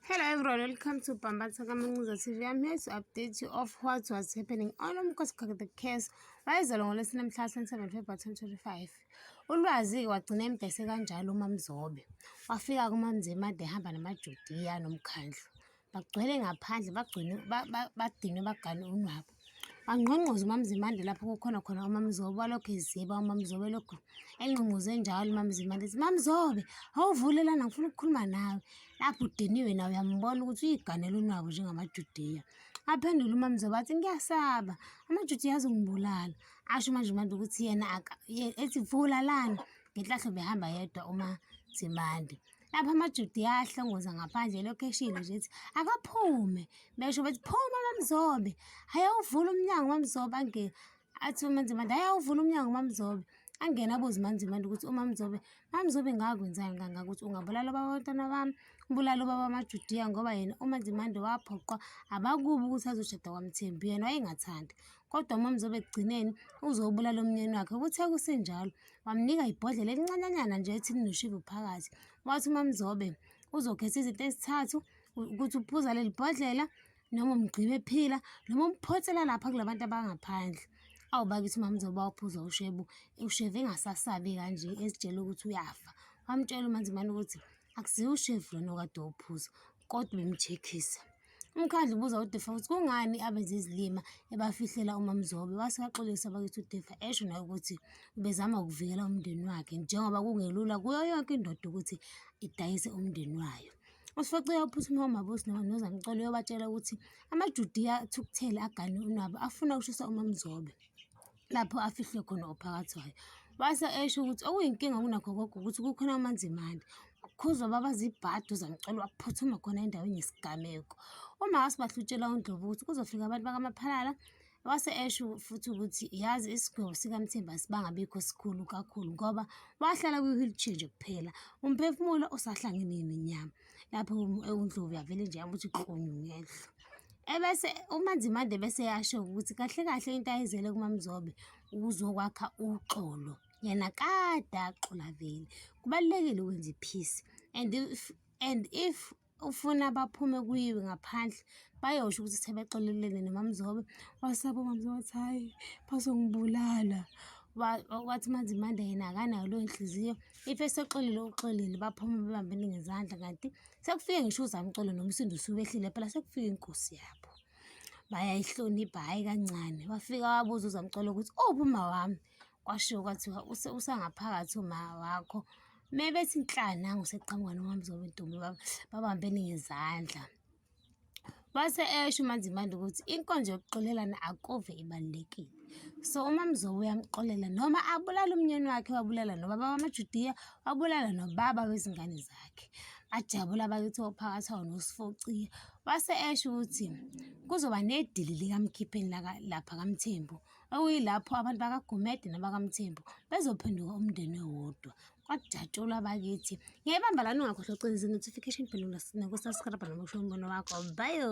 Hello everyone, welcome to Pambatsa Kamanguza TV. I'm here to update you of what was happening on Umkhosi Kakade Case wayezalwa ngolwesine mhla 27 February 2025. Ulwazi-ke wagcina embese kanjalo uMamzobe. Wafika kuMamzima ade ehamba namaJudiya nomkhandlu. Bagcwele ngaphandle, bagcwele badinwe bagane unwabu. Angqongqoze uMamzimande lapho kukhona khona uMamzobe walokhu eziba uMamzobe lokhu engqongqoze njalo uMamzimande ethi Mamzobe awuvule lana ngifuna ukukhuluma nawe lapho udiniwe nawe uyambona ukuthi uyiganela unwabu njengamajudiya aphendule uMamzobe athi ngiyasaba amajudiya azongibulala asho uManjimande ukuthi yena ethi vula lana ngenhlahlo behamba yedwa uMazimande Lapho amaJuda ayahlongoza ngaphandle elokhu eshilo nje ethi, Akaphume! Besho bethi, Phuma Mamzobe! Ayawuvula umnyango uMamzobe angene. Athi uMaNzimande, Ayawuvula umnyango uMamzobe. Angene abuze uMaNzimande ukuthi uMamzobe, Mamzobe ngakwenzani kangaka ukuthi ungabulala ubaba wabantwana bami, ubulale ubaba wamaJudiya ngoba yena uMaNzimande waphoqwa abakubo ukuthi azoshada kwaMthembu, yena wayengathandi. Kodwa uMamzobe ekugcineni uzowubulala umnyeni wakhe. Kuthe kusenjalo, Wamnika ibhodlela elincanyanyana nje ethi linoshivu phakathi. Wathi uMaMzobe uzokhetha izinto ezithathu ukuthi uphuza leli bhodlela noma umgqibe ephila noma umphothela lapha kula bantu abangaphandle. Awu bakithi uMaMzobe wawuphuza ushebu, ushevu engasasabi kanje ezitshela ukuthi uyafa. Wamtshela uMaNzimane ukuthi akusiwo ushevu lona okade wawuphuza. Kodwa uMtshekisa. UMkhandlu ubuza uDefa ukuthi kungani abenza izilima ebafihlela uMaMzobe. Wase waxolisa bakithi uDefa esho naye ukuthi ubezama ukuvikela umndeni wakhe njengoba kungelula kuyo yonke indoda ukuthi idayise umndeni wayo. Usifacile uphuthume uMabusi noma noZamcolo uyobatshela ukuthi amaJudiya athukuthele agane unwabu afuna ukushisa uMaMzobe. lapho afihlwe khona ophakathi wayo. Wase esho ukuthi okuyinkinga kunakho konke ukuthi kukhona uManzimande. Khuzwa baba zibhadu zamcela waphuthuma khona endaweni yesigameko. UMakazi bahlutshela uNdlovu ukuthi kuzofika abantu bakaMaphalala. Wase esho futhi ukuthi yazi isigwebo sikaMthemba sibangabikho sikhulu kakhulu ngoba wahlala kwi-wheelchair nje kuphela. Umphefumulo usahlangene nenyama. lapho ewundlovu yavele nje yamuthi klonyu ngehlo ebese umanzimande bese yasho ukuthi kahle kahle into ayizele kumamzobe ukuzokwakha uxolo yena kade axola vele kubalulekile ukwenza iphisi and if and if ufuna baphume kuyiwe ngaphandle bayosho ukuthi sebexolelene nomamzobe wasaba umamzobe wathi hhayi bazongibulala wathi manzimande yena akanayo leyo nhliziyo if esoxolile uxolile baphume bebambene ngezandla kanti sekufike ngisho uzamcolo nomsindo usubehlile phela sekufike inkosi yabo bayayihlonipha hhayi kancane wafika wabuza uzamcolo ukuthi ophuma oh, wami kwashiwo kwathiwa usangaphakathi uma wakho me bethi nhlana nguseqhamuka nomamzobe ntombi babambene ngezandla Wase esho uMaNzimande ukuthi inkonzo yokuxolelana akuve ibalulekile. So uma mzobe uyamxolela noma abulala umnyeni wakhe wabulala nobaba wamaJudiya wabulala nobaba wezingane zakhe. Bajabula bakithi ophakathi awo nosifocia. Wase esho ukuthi kuzoba nedili likamkhipheni laka- lapha kaMthembu okuyilapho abantu bakaGumede nabakaMthembu bezophenduka umndeni owodwa. kwajatshulwa bakithi ngiyayibamba lani ungakhohlwa ucinisa i-notification bell nokusubscribe nokusho umbono wakho bayo